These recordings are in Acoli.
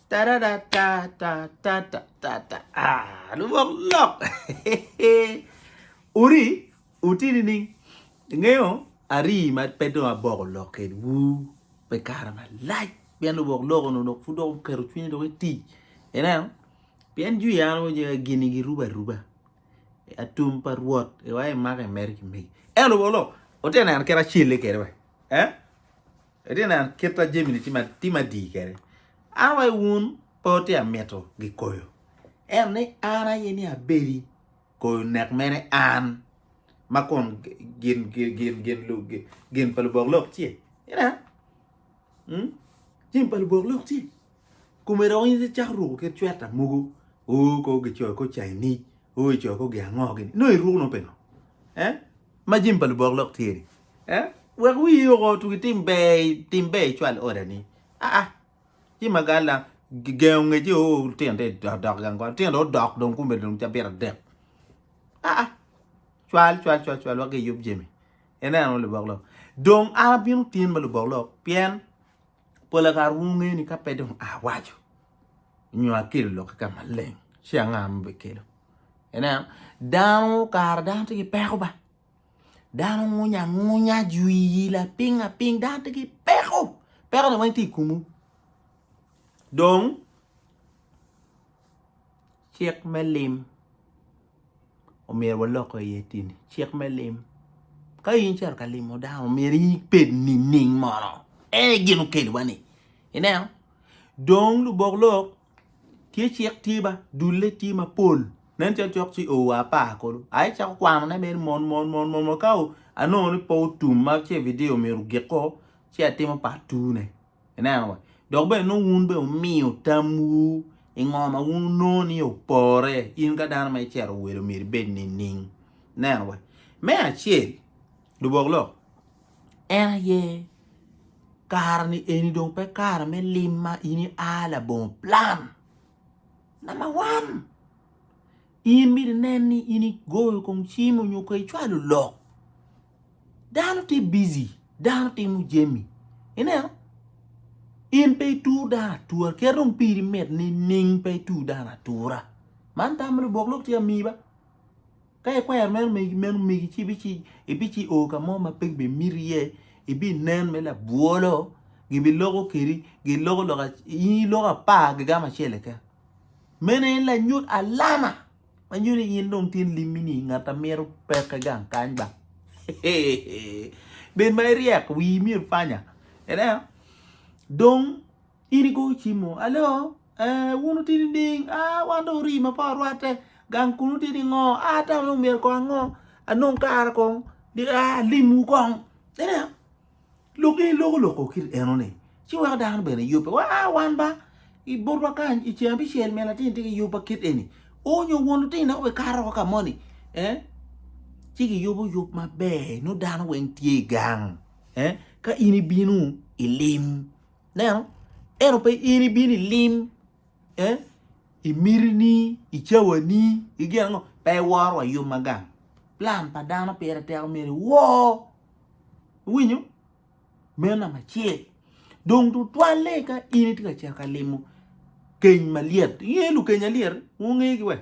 Tararatatatatatata. Ah, lubok lok. Uri, uti nining? Ingeyo ari ma pe dong aboko lok kedwu me kare malac pien lubok lok onongo dok pud dok oketo cwinye dok etic. Ineno? Pien jwi an wo jega gini girubo aruba. Atum pa Rwot iwa imaka imeri ki megi. Eno lubok lok, wati neno kit acelle kede we. Eh? Itye neno kit ma jami-ni tye me dii kwede? An wa i wun pe watye ka mito gikoyo, ento ni an aye ni abedi koyo nek mene an, ma kun gin pa lubok lok tye. Jami pa lubok lok tye. Kome dong in icako ruko kit cweta mogo, oo kong gicoyo kor Chinese, oo icoyo kor gi ango gini, nongo iruko nongo pingo? Ma jami pa lubok lok tye-ni, wek wiyi oko otuk i tim ber, tim ber icwal odani. Aa, ci ma galla gengo ngeci oo lutino tye ka dok gang kwan, lutino dong odok dong kome dong cabit adek. Aa, cwal cwal cwal cwal wek giyub jami. Ineno lubok lok. Dong an abino tin ma lubok lok pien Pol kare wungeyo ni ka pe dong awaco nyo akelo lok kika maleng ci anga ma bikelo ineno dano kare dano tye ki peko ba dano ngunya angunya jwiyi lapiny lapiny dano tye ki peko peko ni weng tye i komu dong cik me lim omyero walok i ye tyen cik me lim ka in icito ka limo dano omyero ibed nining mono en aye gin okelo wa ni ineno dong lubok lok tye cik tye ba dule tye mapol nen calo cok ci oo apar kulu aye icako kwano ne mere mot mot mot mot mot ka anongo ni pe otum ma ce video omyero ogik ko ci atimo part two ne. Ineno wa? Dok bene nongo wun bene wumiyo tamwu i ngo ma wun wunongo ni opore. In ka dano ma icero welo omyero ibed nining? Ineno wa? Me acel, lubok lok, en aye kare-ni eni dong pe kare me lim ma in ia labongo plan. Namba wan, in myero inen ni in igoyo kong cim onyo ka icwalo lok. Dano tye bizi, dano timo jami. Ineno? In pe itur dano atura, kit dong piri mit nining pe itur dano atura. Man tam ma lubok lok tye amiyi ba. Ka ikwero meno megi meno megi ci bici ibici o ka mo ma pe gibimiti iye, ibinen me labwolo, gibiloko kedi, giloko lok in iloko apar gigamo acel keken. Meno en lanyut alama. Manyo ni in dong tin limmi ni ngat a mito peke gang kany ba. Bed ma iryek, wii myero panya. Ineno? Dong in igoyo cim mo, alo, eh, wun wuti nining? Ah, wan dong orii ma pa orwatte. Gang kunu wuti ningo? Ah, ata dong myero kong ango? Anong kare kong? Di, ah, alimwu kong. Ineno? Lok aye loko loko kit eno ni ci weko dano bene yubbe wa a wan ba i bot wa kany i ceng abicel min latin tye ki yubba kit eni o nyo won lutino dok be kato woko ka moni eh ci ki yubo yub ma ber nongo dano weng tye i gang eh ka in i bino i lim neno eno pe in i bino i lim eh i miti ni i cawa ni i gin ango pe i woro wa yub ma gang plan pa dano pire teko mere woo Iwinyo? Meno namba acel. Dong tutwalle ka in itye ka cito ka limo keny malyet. Ingeyo lukeny alyet? Wungegi wa.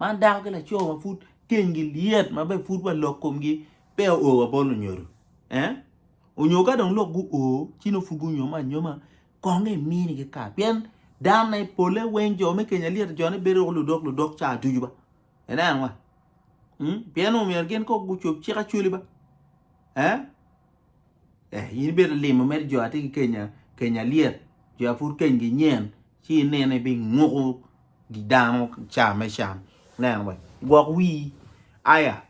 Man dako ki laco ma pud kenygi lyet ma be pud wa lok komgi pe o wa bolo nyodo. Eh? Onyo ka dong lok gu o, ci no pud gunyoma anyoma kong imini ki kar. Pien dano na i pole weng jo me keny alyet jone bedo ludok ludok ca ducu ba. Ineno wa. Hmm? Pien omyero gin kok gucob cik acoli ba. Eh? Eh, in ibedo limo mere jo ati ki Kenya, Kenya liet. Jo apud Kenya gi nyen ci ineno ibi nguko gi dano ca me can. Neno wa. Gwok wii. Aya.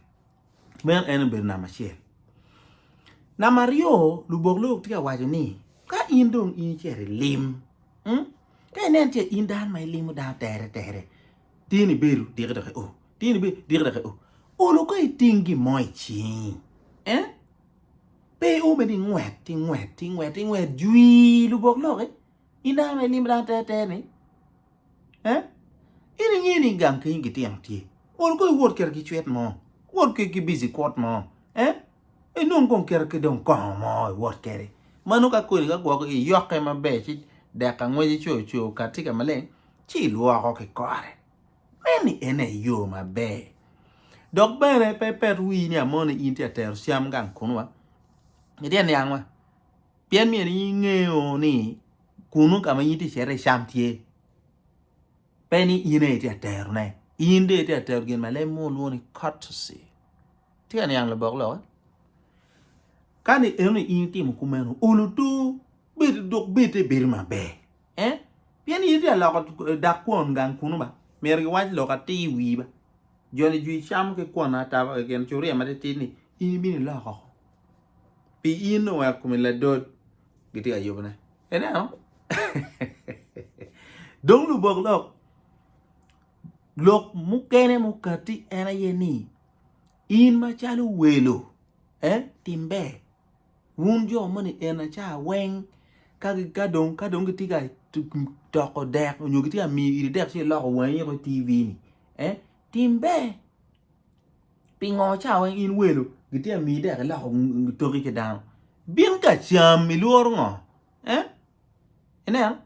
Men en obedo namba acel. Namba aryo, lubok lok tye ka waco ni ka in dong in icito ilim, hmm? ka inen ce in dano ma ilimo dano tere tere, Tin ibedo diki dok i o. Tin ibedo diki dok i o. Olo ka iting gin mo i cingi, eh? Pe i o mene ingwet, ingwet, ingwet, ingwet jwii lubok loki. In dano ma ilimo dano te te ni. Eh? In inge ni gang kenyi gitino tye. Olo ka iwot kit ki cwit mo. Wot ki bici kwot mo. Eh? inong kong kite ki dong kongo mo iwot kede mano ka kodi ka gwoko iyoke maber ci dek angwece coo coo kati ka maleng ci ilwoko ki kore meni en aye yoo maber dok bene pe ipet wii ni amoni in tye ka tero cam gang kunu wa itye ka niang wa pien myero in ingeyo ni kunu ka ma in itye ka cito iye cam tye pe ni in aye itye ka tero ne in dong itye ka tero gin ma leb mo lwongo ni courtesy Tye ka niang lubok lokke? Kani enoni in itimo kumeno, olo tur, bed dok bed te bedo maber. Eh? Pien in itye aloko eh, dak kwon gang kunu ba. Myero giwac lok atir i wii ba. Joni jwi cam ki kwon ataba keken curia matitit ni in ibino iloko oko. Pi in dong weko kumi ladot gitye ka yubone. Ineno? dong lubok lok lok mukene mukati en aye ni In macalo welo eh tim ber wun jo moni Enaca weng ka dong gitye ka toko dek nyo gitye ka miyo iri dek ci iloko wangi iko i TV ni eh tim ber pingo ca weng in welo gitye ka miyi dek iloko toki ki dano bin ka cam ilworo ngo eh Ineno?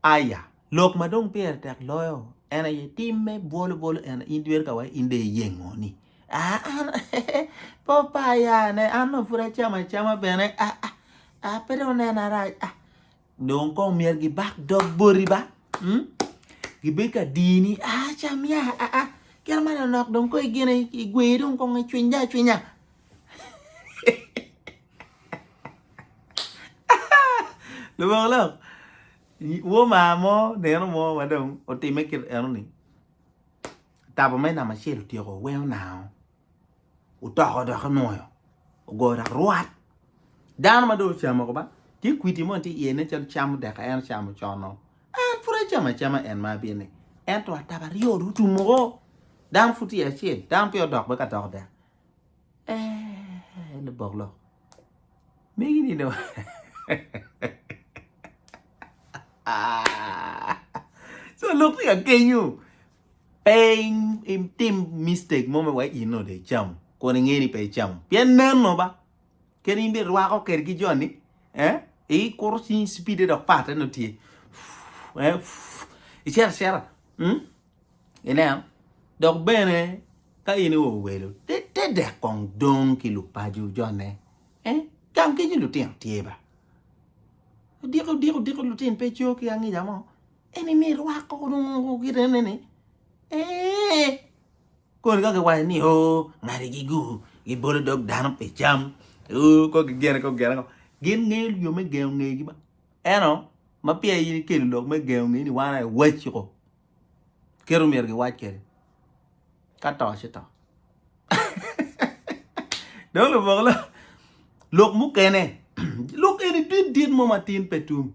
Aya, lok ma dong pire tek loyo en aye tim me bwolo bwolo en in dweri ka wai in de iyengoni. Ah, an pe opa ayane, an dong pud acamo acama bene. Ah, ah, ah, pe dong onena arac. Ah, dong kong myero gibak dog boti ba. Hmm? Gibed ka dini. Ah, cam ya. Ah, ah, kit ma nonok dong kong igene igwe dong kong icwinya acwinya. Lubongo lok, Womar mo nino mo ma dong otime kit eno ni otabo mere namba acel otyeko owengo nao otoko doki nwoyo ogoyo dok rwat dano ma dong ocamo kaba tye kwidi moni tye iye nen calo cam odeke en ocamo con-o en pud acamo acama en ma abino ni ento atabo aryo dong otum woko dano pud tye acel dano peya odok bene ka dok dek. Eeeh lubok lok megi ni dong so lok tye ka kenyo pe itim mistake mo me wai in onongo dong icamo kun ingeyo ni pe icamo pien nen o ba kadi in bene irwako kwede ki joni eh ikuro cingi cipide dok parte nongo tye eh icito acita. Ineno? Dok bene, ka in iowelo, te dek kong dong ki lupaco jone. Eh? Gang kenyo lutino tye ba. Odiko, odiko, odiko lutino pe co ki angica mo. Eni ni rwako nongo kite ne ni. Eh! Koni ka giwaco ni, oh, ngadi gi gu, gibolo dog dano pi cam. Oh, ko gigene, ko gigene ko. Gin ngeyo yo me gengo ngegi ba. Eno, ma peya in ikelo lok me gengo ngeni wan aye wacci ko. kit omyero giwac kwede ka to ci to dong labongo lok lok mukene lok eni dit dit mo matin pe tum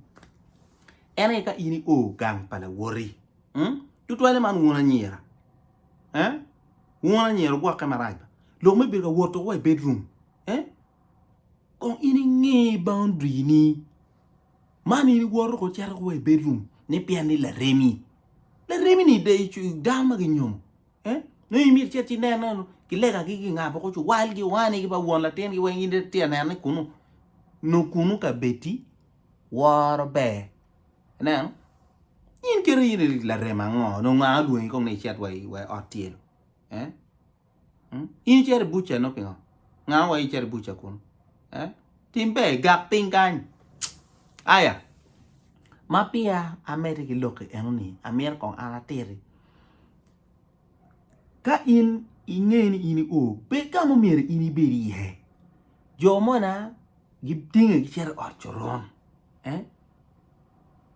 en aye ka in i o gang pa lawoti hmm? tutwale man wun anyira eh? wun anyira ogwokke marac lok me bedo ka wot wa i bedroom eh? kong in inge boundary ni man in iwoto ko icito ko wa i bedroom ne pien ni laremi laremi ni dano ma ginyomo eh nongo imito icit ci inen nongo kilegagi kingabo ko ci walgi wanigi ba won latingi weng in itye ka neno ni kunu nongo kunu ka bedi woro ber ineno in kiti in larem ango nongo nga olwongi kong ni icit wa i ot tyelo eh In icito i buca nongo pingo? Nga owaco icito i buca kunu? Eh? Tim ber igak piny kany. Aya. Ma pia amedde ki lokki eno ni amito kong an atiri. Ka in inge ni in io, bed ka mumyero in ibed iye. Jo mona gitinge gicito i ot coron. Eh?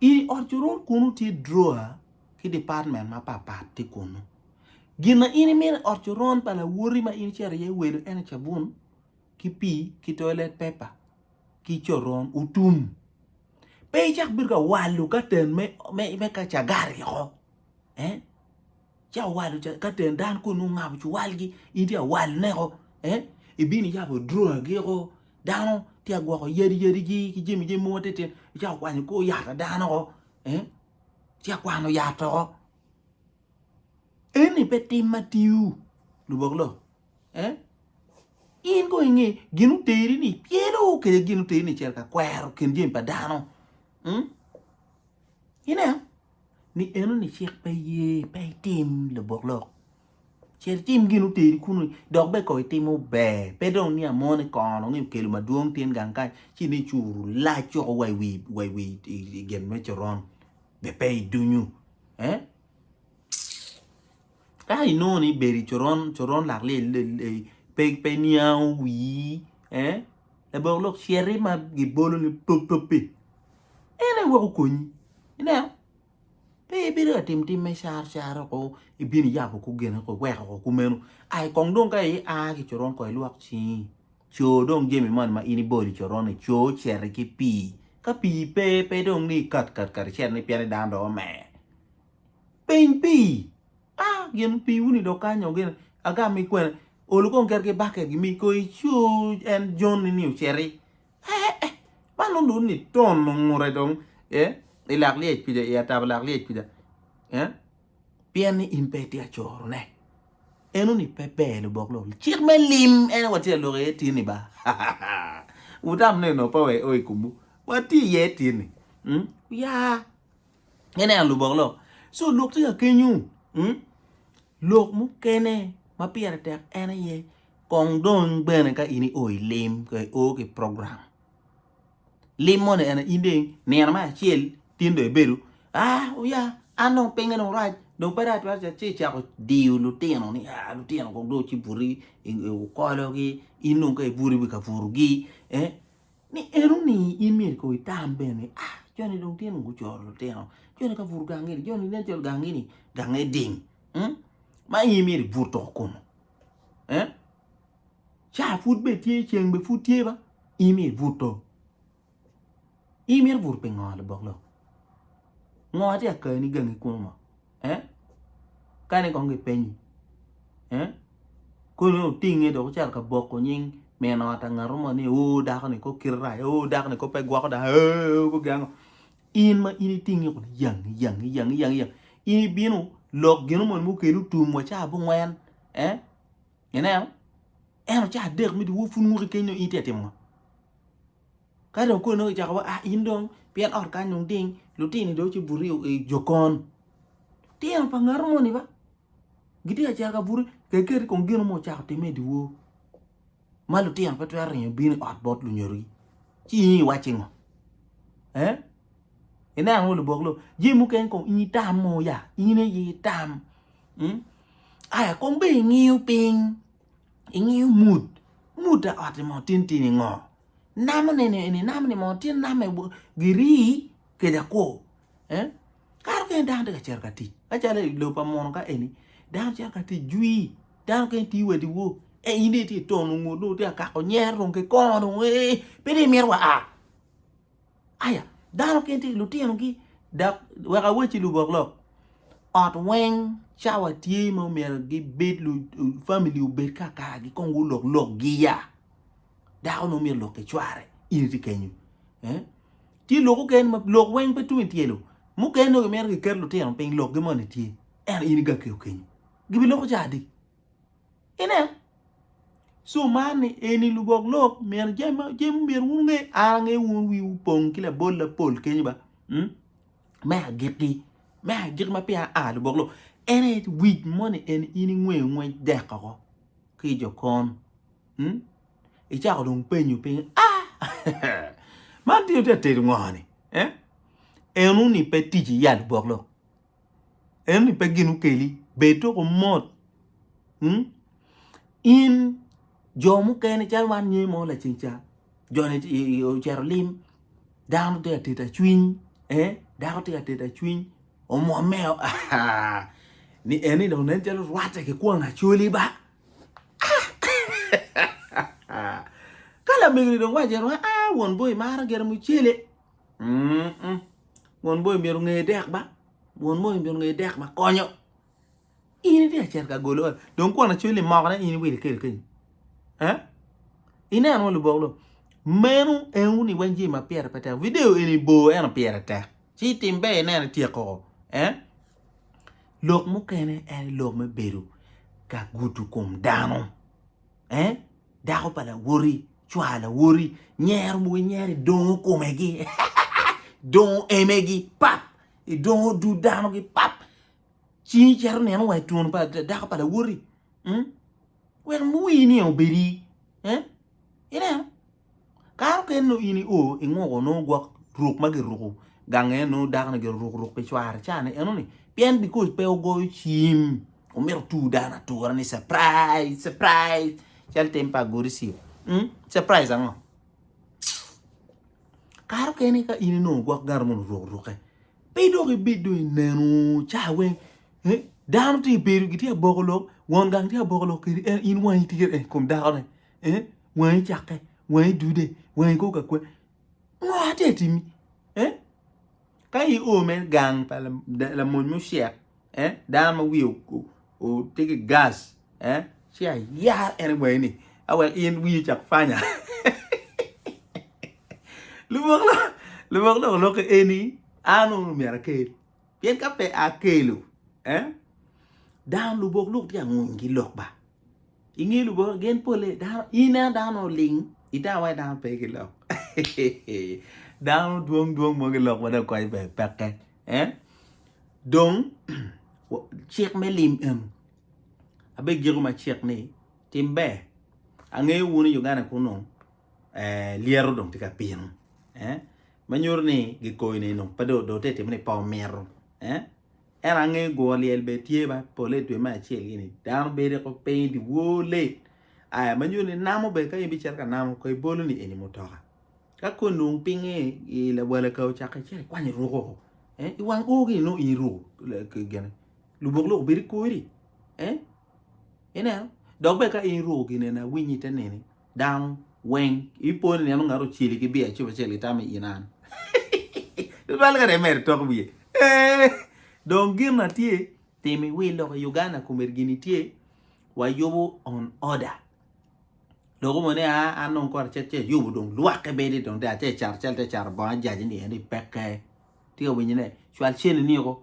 I ot coron kunu tye drawer ki department mapapat tye kunu. Gin ma in imito i ot coron pa lawoti ma in icito iye welo ene cabun ki pii ki toilet pepa ki coron otum. Pe icak bedo ka walo katen me, me, me ka cagari oko. Eh? Ca walo ca- katen dan kun ungabo cuwalgi in tye awaloneko. Eh? Ibino iyabo droagi oko dano tye agwoko yadi yadigi ki jami jami mogo titino icako kwanyo kor yat a dano oko. Eh? Ci akwano yat oko. Eni pe tim ma tio, lubok lo, eh? In kong inge gin oteri ni pyelo kede gin oteri ni cel ka kwero kin jemi pa dano. Mm? Ineo? Ni eno ni cik pe ye, pe itim lubok lo. Cer itim gin oteri kuno, dok be kong itimo ber. Pe dong ni amone kono ngi okelo madwong tin gang kany, ci ni curu lac coko wa i wi, wa i wi i gen me coron. Be pe idunyu. eh ka inongo ni ibedo i coron coron lak lyel lyel pe pe niango wii eh labongo lok citi ma gibolo ni top top pi en aye weko okonyi ineno pe ibido ka tim tim me car car oko ibino iyabo kor geni oko iweko oko kumeno ai kong dong ka ia ki coron kong ilwok cingi. Co dong jami man ma in ibolo i coron-ni, co cere ki pii. Ka pii pe, pe dong ni ikat kat kati cere ni pien ni dano dong omer. Piny pii, a gin piiwu-ni dong kanyo gin agam mi kwene, olu kong keri ki baket gimi ko icu en John-ni ni ociti. Ee, man dong dong ni ton ongure dong ee, i lak lyec kuca, i atabo lak lyec kuca. Ee. Pien ni in pe itye acorone. Eno ni pe ber lubok lok cik me lim en watye ka lok iye tyen ni ba wutam ni nongo pe wek o i komwu watye iye tyen ni ya ineno lubok lok so lok tye ka kenyu lok mukene ma pire tek en aye kong dong bene ka in i o i lim ka i o ki program. Lim moni ene in dong nino me acel tin dong ibedo ah oya an dong pinge dong rac dong pe rac twatwal ci icako diyo lutino ni ah lutino kong dong ci buti i okologi in dong ka ibuto iwi ka butogi eh ni eno ni in myero kong itam bene ni ah joni dong tye dong gucoro lutino joni ka buto gangi ni joni nen calo gangi ni gange ding ma in myero ibuto kunu eh Caa pud be tye, ceng be pud tye ba. In ibuto. In mito buto pi ngo labok lok? Ngo atye ka kani gangi kunu mo? Eh? Kane kong gipenyi. Eh? Kone otinge dok ocito ka boko nying min ot angato mo ni o dako ni kok kite rac, o dako ni kok pe gwoko dako, o kok giango. In ma in itinge kunu yang yang yang yang yang. In ibino lok gino moni mukelu tum wa caa bungwen. Eh? Ineno? En ocawa adek me dyewo pud muki keny dong in tye ka timo ngo? Ka dong koni dong kicako wa ah in dong pien ot kany dong ding lutini dong ce buto i jokon. Litino pa ngato moni ba gitye ka cito ka buto kekeri kong gino ma ocako timme i dyewo ma lutino pe twero ringo bino i ot bot lunyodogi ci in iwacci ngo? Eh? Ineno labok lo jami mukene kong in itam mo ya in aye itam. hmm? aya kong be ingiyo piny ingiyo mut mut a ot mo tin tin ingo namo nene eni namo ni mo tin namo e giri keja kwo eh? karo kene dano tye ka cito ka tic acalo i lo pa mono ka eni dano cito ka tic jwi dano kene tiyo wadi wo e in dong itye tono ngut dong itye ka kako nyer dong kikongo dong ee pe dong imito wa a Aya, dano gin tye ki lutinogi dok wek awacci luboklok ot weng cawa tye ma omyero gibed famili obed kakargi kong gulok lok giya dako ne omyero olok ki cware in itye kenyo tye lok oken ma lok weng pe tung ityelo mukene dong gimito giket lutino piny lokgi moni tye ento in igakeyo kenyo gibiloko ca adi Ineno? So man ni eni lubok lok myero jami myero wun nge an ange wun wiwu pong ki labol lapol kenyo ba hmm? me agikki me agikki ma pia a lubok lok en aye wic moni en in ingweyo ngwec dek oko ki i jokon hmm? icako dong penyo piny a man tye tye atedo ngo ni eh? enu ni pe tic iya lubok lok ento ni pe gin okeli bed dok omot in jo mukene calo wan nyo mo laceng ca joni ocito lim dano tye ka teta cwiny dako tye ka teta cwiny omwome o ni en ni dong nen calo orwatte ki kwon acholi ba ka lamego ni dong waco ni won bongo imaro gire mucele. Won bongi myero onge dek ba, won bongi myero onge dek ba konyo in itye ka cito ka golo ot dong kwon acweli moko ne in iwilo ikel kenyo eh ineno wun lubok loo meno en wun iweny jami ma pire pe tek video eni bor ento pire tek ci itim ber ineno ityek koko eh lok mukene en lok me bedo ka gudo kom dano eh dako pa lawoti, cwar lawoti, nyero mogo inyero idongo komegi, dongo emegi pap, idongo dud danogi pap, cingi cito neno wa i twon pa dako pa lawoti, hmm? wek wii niye obedi, eh? ineno? Kare okene nongo in io inguko nongo gwok ruk ma giruko gange nongo dako ni giruko ruk pi cware ca ne eno ni pien because pe ogoyo cim omito tur dano atura ni surprise surprise cal tim pa agodi ci surprise ango kare okene ka in inongo gwok gari mono oruko ruke pe dong ibid dong inenu ca weng dano tye ibedo gitye aboko lok won gang tye aboko lok kedi en in wangi tye kede kom dakone. eh wangi cakke wangi dude wangi kor ka kwe ngo ati atimi eh ka i o me gang pa lamony mo shek eh dano ma wiye ote ki gas eh ci ayar ene wangi ni awek in wiyi cak fanya lubok lo lubok lok lok eni an o myero akel pien ka pe akelo eh dano lubok lok tye anguny ki lok ba. I nge Lubanga gen pole, in ineno dano oling i tawa dano pe gilok dano dwong dwong mo gilok ma dong kony bene peke eh? dong cik me lim eno abegiko ma cik ni tim ber angeyo wun i Uganda kunu eh, lyeto dong tye ka pino eh? ma nyuto ni gikoyo ni dong pe dong dong te timo ni pe omito eh? Ento angeyo guro lyel bene tye ma pole i dwe me acel gini dano bedo i kor piny dyewor late aya ma nyuto ni namo bene ka in bicito ka namo kong ibolo ni eni mutoka ka kong inong pinge i lawala ka ocako ice ikwany iruko i wang oo gini nongo in iruko lubok lok obedo i kori. Ineno? Dok bene ka in iruko gin eni awiny ite nini, dano weng ipo ni ineno ngat oceli ki biya cip acel itamo i in an. Tutwal kare mere tok wiye. Eh, dong gin na tye tim i wil lok i Uganda komedi gini tye wayubo on order. Loko mo ni a ah, an dong kore cet cet yubo dong lwakke bedi dong te ace cat acel te caro bongo ajaji ni eni pekke. Tika winyi ne, cwal ceni niko.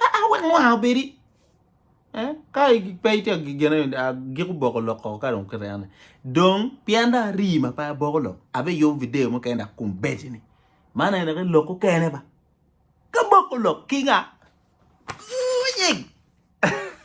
Aa wek mwaka obedi. Ka pe itye ka gene agik oboko lok koko ka dong kite ane. Dong pien dong arii ma pe aboko lok, abiyubo video mukene dok kumbedini. Man aye dok lok okene ba. Ka boko lok ki nga? Ooh nying!